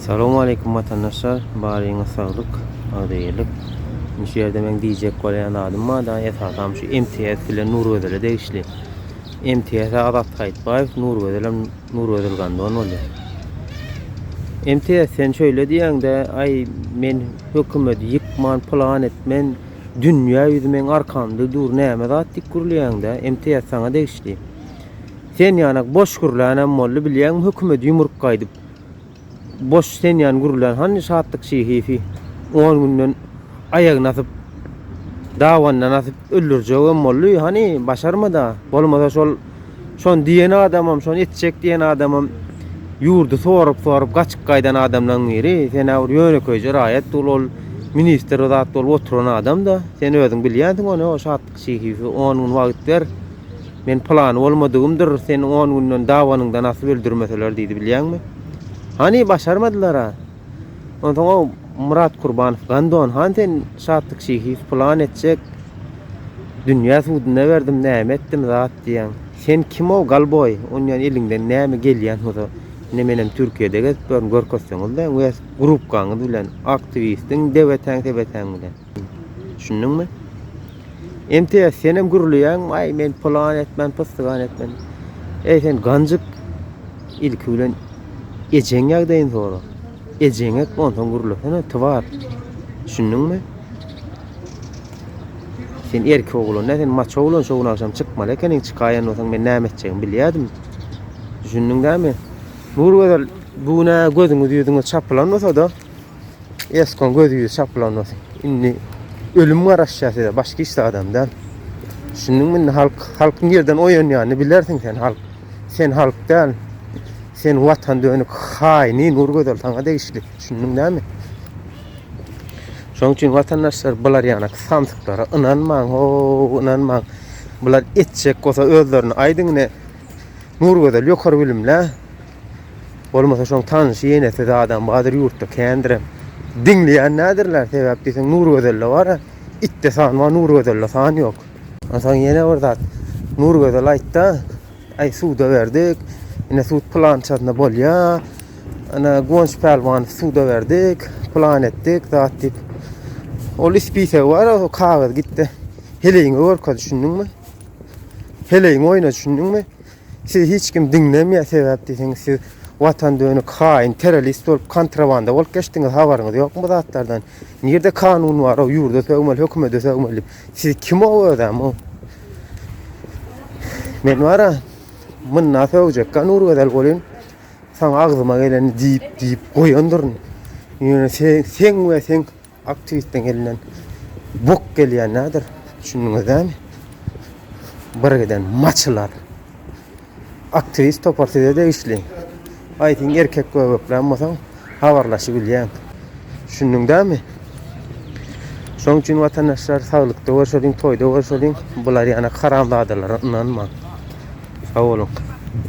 Salam aleýkum watandaşlar baryňyz saglyk agzybirlik indi şu ýerde meň diýjek bolýan zadym barda esasam şu MTS bilen Nurgözele degişli MTS Azat Saýtbaýew Nurgözelem Nurgözel Gandon boldy MTS sen şöyle diýäňde aý men hökümeti ýykman plan etmen dünýä ýüzi meň arkamda dur näme zat diýip gürleýäňde MTS saňa degişli sen ýanak boş gürlänem boldy bilýäňmi hökümeti ýumruk gaýdyp Boş senýan gürlän hany şatlyk şihisi on günden aýagyny asyp dabandan asyp öldürjegem boldy hany başarmada bolmasa şol şony diýen adamam şony etjek diýen adamam ýurdy sorup sorup gaçyp gaýdan adamlaň biri senä bir ýönekeýje raýat dul ol ministr zat bolup oturan adamda sen özüň bilýänsiň ony o şatlyk Şehibe on gün wagyt ber. Men pylany bolmadygymdyr, seni on günden dabanyňdan asyp öldürmeseler diýdi, bilýäňmi? Hany, başarmadylar-a. Onsoň-a Myrat Kurbanow Gandon han sen Şatlyk Şehibe pylan etjek. Dünýä suduna berdim, näme etdim zat diýýäň. Sen kim-ow, golboý? Onýan eliňden näme gelýän bolsa, ine menem Türkiýede gezip ýörün, görkezseňiz-dä wes grupkaňyz bilen, aktiwistiň debetäň-sebetäň bilen. Düşündiňmi? MTS senem gürleýäň, aý men plan etmän, pystygan etmän. Eý sen ganjyk ilki bilen ejeň ýagdaýyny sora. Ejeň et onsoň gürlesene twar. Düşündiňmi? Sen erkek oglan, sen maço oglan şu gün agşam çykmaly ekeniň, çykaýan bolsaň men näme etjegimi bilýärdim. Düşündiň dämi? Nurgözel bu güne gözüňiz ýüzüňiz çapylan bolsa-da, Eskon gözü yüz çaplanmasın. Şimdi ölüm var aşağı size. Başka işte adam da. Şimdi mi halk, halkın yerden oyun yani bilersin sen halk. Sen halk değil. Sen vatan dönük haini nur gözel sana değişli. Şimdi değil mi? Şoň üçin watandaşlar bular ýana samsyklara ynanmaň, ho, ynanmaň. Bular etjek bolsa özlerini aýdyň ne. Nur gözel ýokary bilimli. Bolmasa şoň tanşy ýenesi zadam badyr ýurtda kändirem. Diňleýän nädirler sebäp diýseň Nurgözelde bar-a. Itde san bar Nurgözelde san ýok. Onsoň ýene bir zat. Nurgözel aýtda, Aý suda berdik. Ine sud pylançasyna bolýa. Ana Guwanç Pälwanow suda berdik. Pylan etdik zat diýip. Ol ispisegi bar o kagyz gitde. Heleýiňe görkez düşündiňmi? Heleýiňe oýna düşündiňmi? Sizi hiç kim diňlemeýär sebäp diýseňiz siz watan dönik haýyn terrorist bolup kontrabanda bolup geçdiňiz habaryňyz ýokmy bu zatlardan nirde kanun bar o ýurda sögmeli hökümede sögmeli siz kim o özem o men bara mynna sögecekka nur gözel bolyn saňa agzyma geleni diýip diýip goýandyryn ýöne sen sen we sen Aktiwistiň elinden bok gelýär näder, düşündiňiz dämi? Birgiden maçylar. Aktiwist topar size degişli. Aýtyň erkek göbeklän bolsaň, habarlaşybilýäň. Düşündiň dämi? Şoň üçin watandaşlar saglykda görşeliň, toýda görşeliň, bular ýanak haramzadalara ynanmaň. Sag boluň.